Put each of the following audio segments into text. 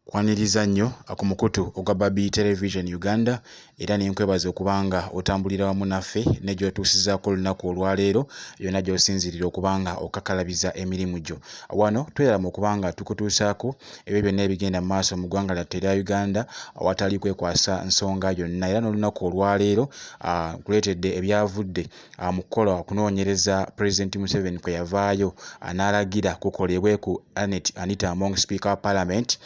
Kwaniriza nnyo ku mukutu ogwa Babi Television Uganda era ne nkwebaza okuba nga otambulira wamu naffe ne gy'otuusizaako olunaku olwaleero yonna gy'osinziirira okuba nga okakalabiza emirimu gyo. Wano twerama okuba nga tukutuusaako ebyo byonna ebigenda mu maaso mu ggwanga lyattu erya Uganda awatali kwekwasa nsonga yonna era n'olunaku olwaleero nkuleetedde ebyavudde mu kukola okunoonyereza pulezidenti museveni kwe yavaayo n'alagira kukolebwe ku anet anita among speaker wa parliament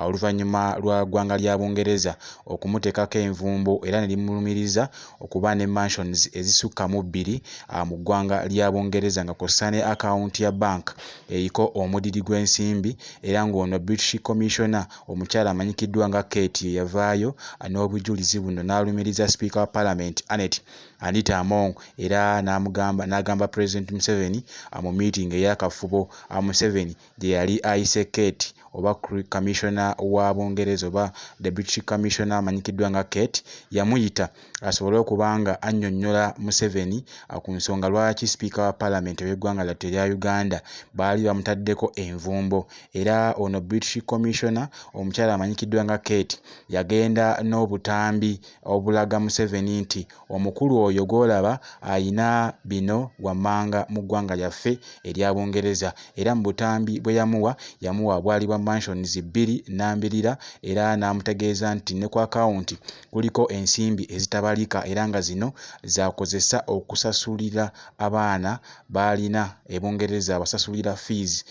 oluvannyuma lwa ggwanga lya bungereza okumuteekako envumbo era ne limulumiriza okuba ne mansions ezisukka mu bbiri mu ggwanga lya bungereza nga kw'ossa ne akawunti ya bank eriko omudidi gw'ensimbi era ng'ono british commissioner omukyala amanyikiddwa nga kate ye yavaayo n'obujulizi buno n'alumiriza sipiika wa parliament anet Anita Among era n'amugamba n'agamba Pulezidenti Museveni mu miitingi ey'akafubo Museveni gye yali ayise Kate oba Kamiisona wa Bungereza oba Deputy Commissioner amanyikiddwa nga Kate yamuyita asobole okuba nga annyonnyola Museveni ku nsonga lwaki Sipiika wa Palamenti ow'eggwanga lyattu erya Uganda baali bamutaddeko envumbo era ono British Commissioner omukyala amanyikiddwa nga Kate yagenda n'obutambi obulaga Museveni nti omukulu oyo gw'olaba alina bino wammanga mu ggwanga lyaffe erya Bungereza era mu butambi bwe yamuwa, yamuwa bwali bwa Mansions bbiri nnambirira era n'amutegeeza nti ne ku akawunti kuliko ensimbi ezitabalika era nga zino z'akozesa okusasulira abaana b'alina e Bungereza abasasulira fees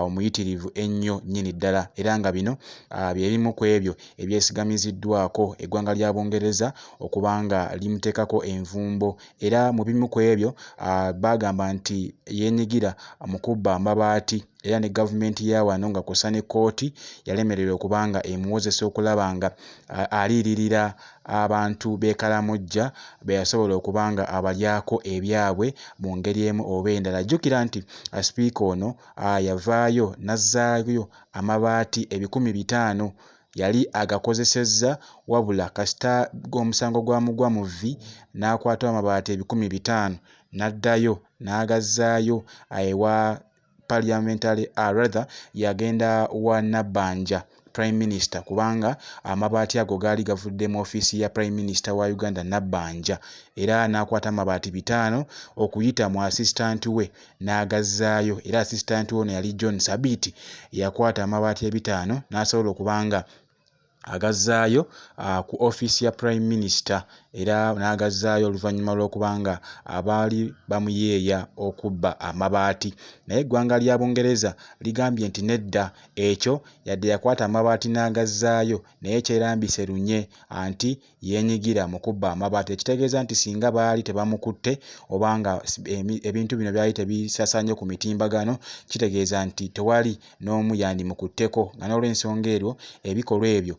omuyitirivu ennyo nnyini ddala era nga bino bye bimu kw'ebyo ebyesigamiziddwako eggwanga lya Bungereza okuba nga limuteekako envumbo era mu bimu ku ebyo baagamba nti yeenyigira mu kubba amabaati era ne gavumenti ya wano nga kw'ossa ne kkooti yalemererwa okuba nga emuwozesa okulaba nga aliiririra abantu b'e Karamojja be yasobola okuba nga abalyako ebyabwe mu ngeri emu oba endala. Jjukira nti sipiika ono yavaayo n'azzaayo amabaati ebikumi bitaano yali agakozesezza wabula kasita omusango gwamugwa mu vvi n'akwata amabaati ebikumi bitaano n'addayo n'agazzaayo ewa Parliamentary ah rather yagenda wa Nabbanja Prime Minister kubanga amabaati ago gaali gavudde mu ofiisi ya Prime Minister wa Uganda Nabbanja era n'akwata amabaati bitaano okuyita mu assistant we n'agazzaayo era asisitanti ono yali John Sabiiti eyakwata amabaati ebitaano n'asobola okuba nga agazzaayo uh, ku offiisi ya prime minister era n'agazzaayo oluvannyuma lw'okuba nga abaali bamuyeeya okubba amabaati naye eggwanga lya bungereza ligambye nti nedda ekyo yadde yakwata amabaati n'agazzaayo naye kyerambise lunye anti yeenyigira mu kubba amabaati ekitegeeza nti singa baali tebamukutte oba nga ebintu bino byali tebisasaanye ku mitimbagano kitegeeza nti tewali n'omu yandimukutteko nga n'olwensonga eryo ebikolwa ebyo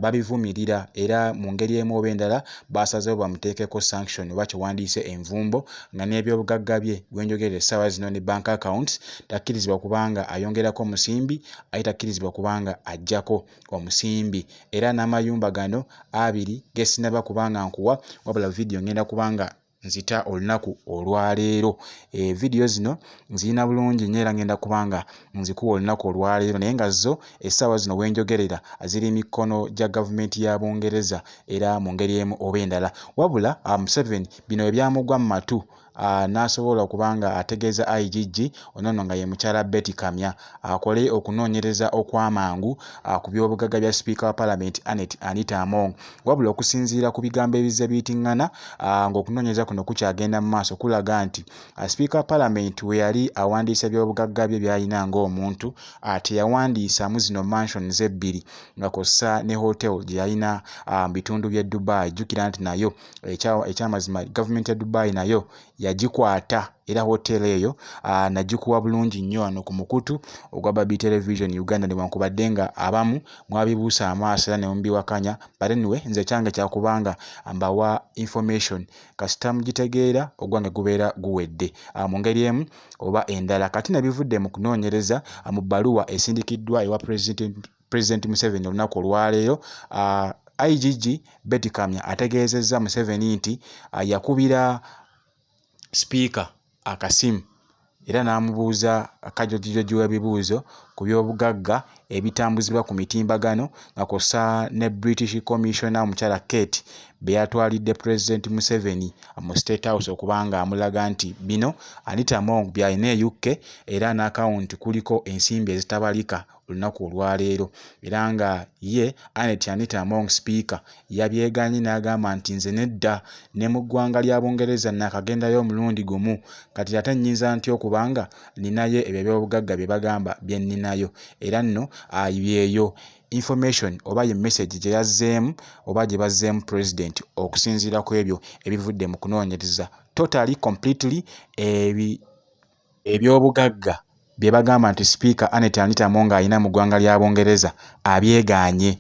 babivumirira era mu ngeri emu oba endala baasazeewo bamuteekeko sanction oba kye wandiyise envumbo nga n'ebyobugagga bye gwenjogerera essaawa zino ne bank accounts takkirizibwa kubanga ayongerako musimbi ate takkirizibwa kubanga ajjako omusimbi era n'amayumba gano abiri gesinaba kubanga nkuwa wabula vidiyo ngenda kubanga nzita olunaku olwaleero eh, vidiyo zino nzirina bulungi nyo era ngenda kubanga nzikuwa olunaku olwaleero naye nga zo essaawa zino wenjogerera ziri mikono gya gavumenti ya bungereza era mu ngeri emu oba endala wabula ah, museveni bino ebyamugwa mu matu uh, n'asobola okuba nga ategeeza IGG ono nno nga ye mukyala Betty Kamya akole okunoonyereza okw'amangu uh, ku by'obugagga bya sipiika wa palamenti Annet Anita Among wabula okusinziira ku bigambo ebizze biyitingana uh, ng'okunoonyereza kuno kukyagenda mu maaso kulaga nti uh, sipiika wa palamenti we yali awandiisa eby'obugagga bye byalina ng'omuntu uh, teyawandiisamu zino mansions ebbiri nga kossa ne hotel gye yalina uh, mu bitundu by'e Dubai jjukira nti nayo ekyamazima gavumenti ya dubai nayo yagikwata era hoteera eyo nagikuwa bulungi nnyo wano ku mukutu ogwa babi television uganda newankubadde nga abamu mwabibuusa amaaso era nemubiwakanya but anyway nze kyange kyakubanga mbawa information kasita mugitegeera ogwange gubeera guwedde mu ngeri emu oba endala kati nebivudde mu kunoonyereza mu bbaluwa esindikiddwa ewa president Pulezidenti Museveni olunaku olwaleero uh, IGG Betty Kamya ategeezezza Museveni nti uh, yakubira sipiika akasimu era n'amubuuza kajojijoji w'ebibuuzo ku by'obugagga ebitambuzibwa ku mitimbagano nga kw'ossa ne British Commissioner omukyala Kate be yatwalidde Pulezidenti Museveni mu State House okuba ng'amulaga nti bino Anita Among by'alina e UK era n'akawunti kuliko ensimbi ezitabalika olunaku olwaleero era nga ye Annet Anita Among sipiika yabyeganye n'agamba nti nze nedda ne mu ggwanga lya Bungereza naakagendayo omulundi gumu kati ate nnyinza ntya okuba nga nninayo ebyo eby'obugagga bye bagamba bye nninayo era nno yeeyo information oba ye message gye yazzeemu oba gye bazzeemu president okusinziira ku ebyo ebivudde mu kunoonyereza totally completely ebi Eby'obugagga bye bagamba nti sipiika Annet Anita Among alina mu ggwanga lya Bungereza abyegaanye.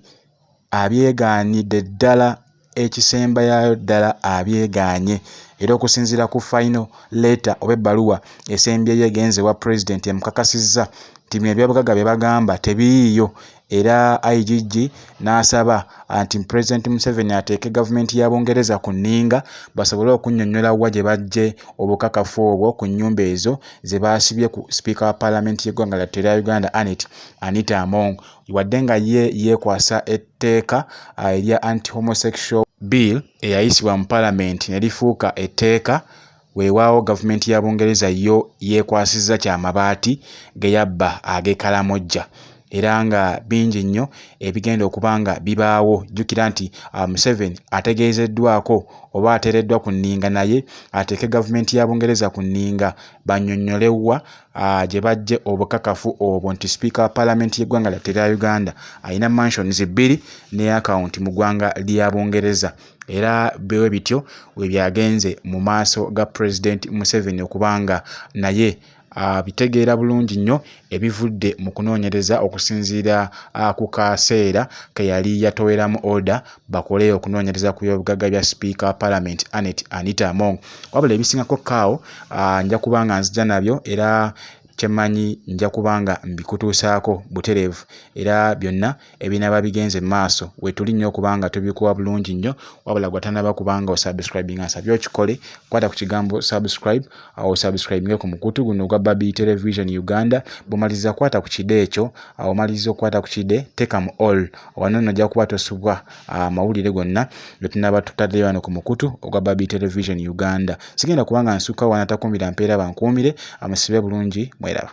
Abyegaanidde ddala ekisembayayo ddala abyegaanye era okusinziira ku fayino leeta oba ebbaluwa esembyeyo egenze ewa pulezidenti emukakasizza nti bino eby'obugagga bye bagamba tebiyiiyo era IGG n'asaba anti Pulezidenti Museveni ateeke gavumenti ya Bungereza ku nninga basobole okunnyonnyola wa gye baggye obukakafu obwo ku nnyumba ezo ze baasibye ku sipiika wa Palamenti y'eggwanga lyattu erya Uganda Annet Anita Among wadde nga ye yeekwasa etteeka ah, erya anti homosexual bill eyayisibwa mu Palamenti ne lifuuka etteeka Weewaawo Gavumenti ya Bungereza yo yeekwasizza kya mabaati ge yabba ag'e Karamoja era nga bingi nnyo ebigenda okuba nga bibaawo. Jjukira nti Museveni ategeezeddwaako oba ateereddwa ku nninga naye ateeke Gavumenti ya Bungereza ku nninga bannyonnyole wa gye baggye obukakafu obwo nti Sipiika wa Palamenti y'eggwanga lyattu erya Uganda alina mansions bbiri ne akawunti mu ggwanga lya Bungereza. era bwe bityo bwe byagenze mu maaso ga Pulezidenti Museveni okuba nga naye abitegeera bulungi nnyo ebivudde mu kunoonyereza okusinziira ku kaseera ke yali yatoweramu oda bakole okunoonyereza ku byobugagga bya sipiika wa palamenti Annet Anita Among. Wabula ebisingako kaawo nja kuba nga nzija nabyo era kye mmanyi nja kuba nga mbikutuusaako butereevu era byonna ebinaba bigenze maaso wetuli nnyo okubanga tubikuwa bulungi nnyo wabula gwatanaba kubanga osubscribing asabye okikole kwata ku kigambo subscribe awo osubscribinge ku mukutu guno ogwa babi television uganda bumaliza kwata ku kide ekyo awo omaliza okwata ku kide teka mu all wanono ojja kuba tosubwa amawulire ah, gonna getunaba tutaddeyo wano ku mukutu ogwa babi television uganda sigenda kubanga nsukka wanatakuumira mpeera bankuumire amusibe bulungi mweraba